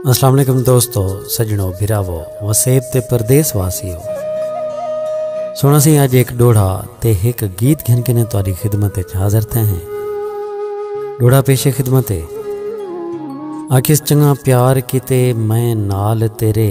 السلام علیکم دوستو سجنو بھراو وسیب تے پردیس واسی ہو سونا سی آج ایک ڈوڑا تے ایک گیت گھن کے نے تاری خدمت اچ حاضر تھے ہیں ڈوڑا پیش خدمت ہے آکس چنگا پیار کیتے میں نال تیرے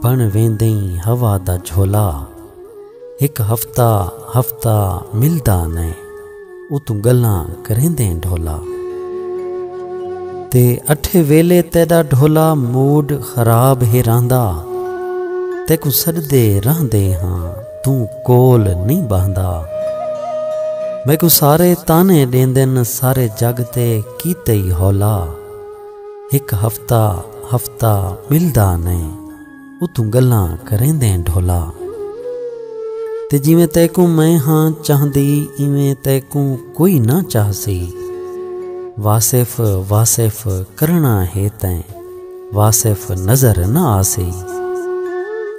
بݨ ویندئیں ہوا دا جھولا ہک ہفتہ ہفتہ ملدا نئیں اتوں ڳلاں کریندئیں ڈھولا تے اٹھے ویلے تیݙا ڈھولا موڈ خراب ہے رہندا تیکوں سݙدے رہندے ہاں توں کول نئیں ٻہندا میکوں سارے طعنے ݙیندن سارے جڳ تے کیتئی ہولا۔ ہک ہفتہ ہفتہ ملدا نئیں اتوں گلاں کریندیں ڈھولا تے جیویں تیکوں میں ہاں چاہندی ایویں تیکوں کوئی نہ چاہسی واصف واصف کرنا ہے تیں واصف نظر نہ آسی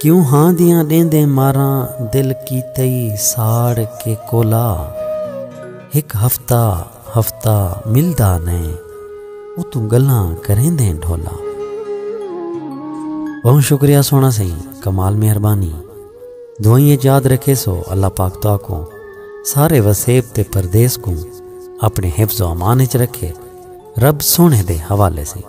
کیوں ہاں دیاں ڈیندیں ماراں دل کیتئی ساڑ کے کولا ہک ہفتہ ہفتہ ملدا نئیں اتوں گلاں کریندیں ڈھولا۔ بہوں شکریہ سونا سئیں کمال مہربانی دعائیں اچ یاد رکھے سو اللہ پاک تہاکوں سارے وسیب تے پردیس کوں اپنے حفظ و امان اچ رکھے رب سونے دے حوالے سئیں۔